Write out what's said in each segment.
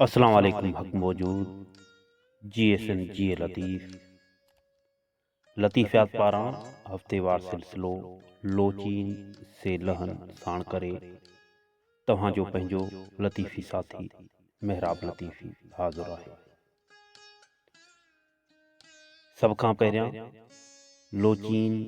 اسلام عليڪم حق موجود G S N G A Latif لطيفيات پاران هفتيوار سلسلو لوچين سي لهن ساڻ ڪري توهان جو پنهنجو لطيفي ساٿي محراب لطيفي حاضر آهي سڀ کان پهريان لوچين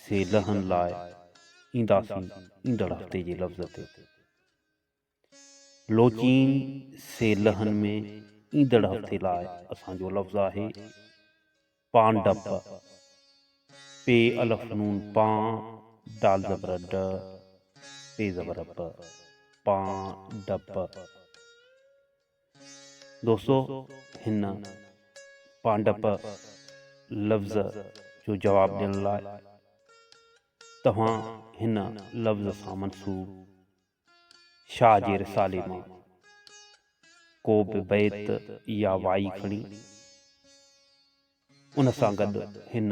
سي لهن لاء اينداسين ايندڙ هفتي جي لفظ تي لوچين سي لهن ۾ ايندڙ هفتي لاء اسان جو لفظ آهي، پانڊپ، پي الف نون پان، ڊال زبر ڊ، پي زبر پ، پان ڊپ. دوستو هن پانڊپ لفظ جو جواب ڏيڻ لاء توهان هن لفظ سان منسوب شاهه جي رسالي مان ڪو به بيت يا وائي کڻي ان سان گڏ هن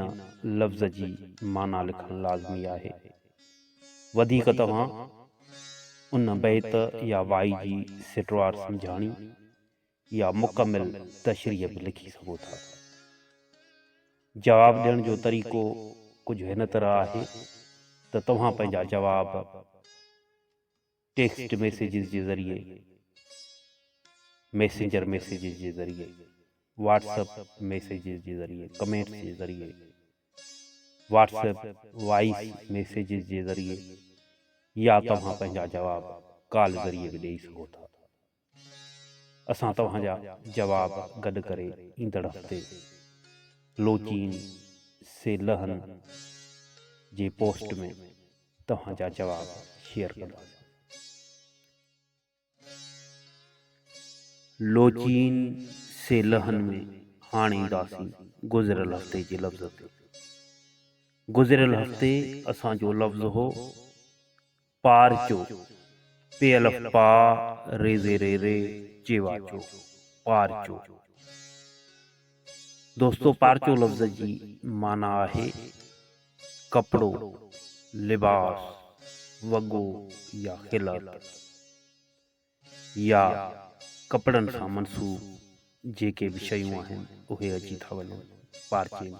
لفظ جي معنيٰ لکڻ لازمي آهي. وڌيڪ توهان ان بيت يا وائي جي سٽوار سمجهاڻي يا مڪمل تشريح به لکي سگهو ٿا. جواب ڏيڻ جو طريقو ڪجهه هن طرح آهي ته توهان پنهنجا جواب ٽيڪسٽ ميسيجز جي ذريعي، ميسنجر ميسيجز جي ذريعي، واٽس اپ ميسيجز جي ذريعي، ڪمينٽس جي ذريعي، واٽس اپ وائيس ميسيجز جي ذريعي يا توهان پنهنجا جواب ڪال ذريعي به ڏيئي سگهو ٿا. اسان توهان جا جواب گڏ ڪري ايندڙ هفتي لوچين سي لهن جي پوسٽ ۾ توهان جا جواب شيئر ڪنداسين. لوچين سي لهن ۾ هاڻ اينداسين گذريل هفتي جي لفظ تي. گذريل هفتي اسان جو لفظ هو پار چو، پي الف پا، ري زي ري ري، چي وا چو، پار چو. دوستو پار چو لفظ جي معنيٰ آهي ڪپڙو، لباس، وڳو يا خلعت يا ڪپڙن سان منسوب جيڪي به شيون آهن اهي اچي ٿا وڃن پارچي ۾.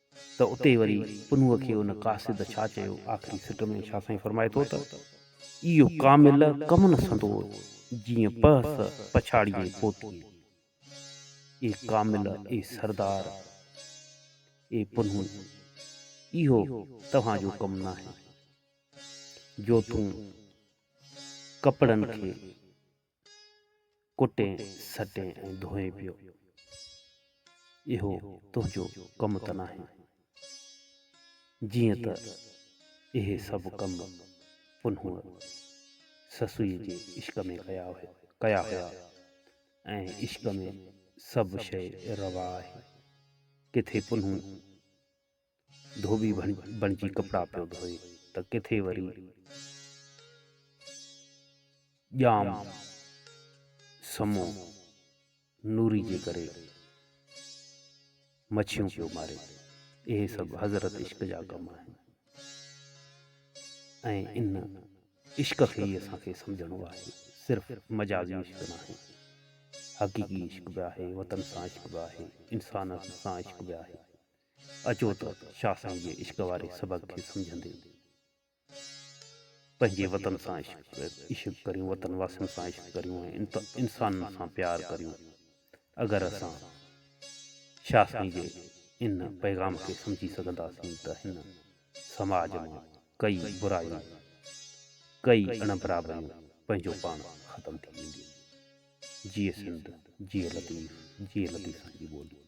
ته اتي وري پنهونء کي ان قاصد ڇا چيو؟ آخري سٽ ۾ شاهه سائين فرمائي ٿو ته. اهو ڪامل ڪمن سندور، جيئن پهس پڇاڙيئي پوتيء. اي ڪامل، اي سردار، اي پنهون، اهو توهان جو ڪم ناهي، جو تون ڪپڙن کي. ڪٽين سٽين ۽ ڌوئين پيو. اهو تنهنجو ڪم ته ناهي. جيئن ته اهي سڀ ڪم پنهونء سسئيء جي عشق ۾ ڪيا هيا ۽ عشق ۾ سڀ شيء روا آهي. ڪٿي پنهون ڌوٻي بڻجي ڪپڙا پيو ڌوئي ته ڪٿي وري ڄام سمو نوري جي ڪري مڇيون پيو ماري. اهي سڀ حضرت عشق جا ڪم آهن ۽ ان عشق کي ئي اسان کي سمجهڻو آهي. صرف مجازي عشق ناهي، حقيقي عشق به آهي، وطن سان عشق به آهي، انسانن سان عشق به آهي. اچو ته شاهه سائين جي عشق واري سبق کي سمجهندي پنهنجي وطن سان عشق ڪريون وطن واسين سان عشق ڪريون ۽ انسانن سان پيار ڪريون اگر اسان شاهه سائين جي ان پيغام کي سمجهي سگهنداسين ته هن سماج مان ڪئي برايون ڪئي اڻ برابريون پنهنجو پاڻ ختم ٿي وينديون جيئي سنڌ جيئي لطيف جيئي لطيف سائين جي ٻولي.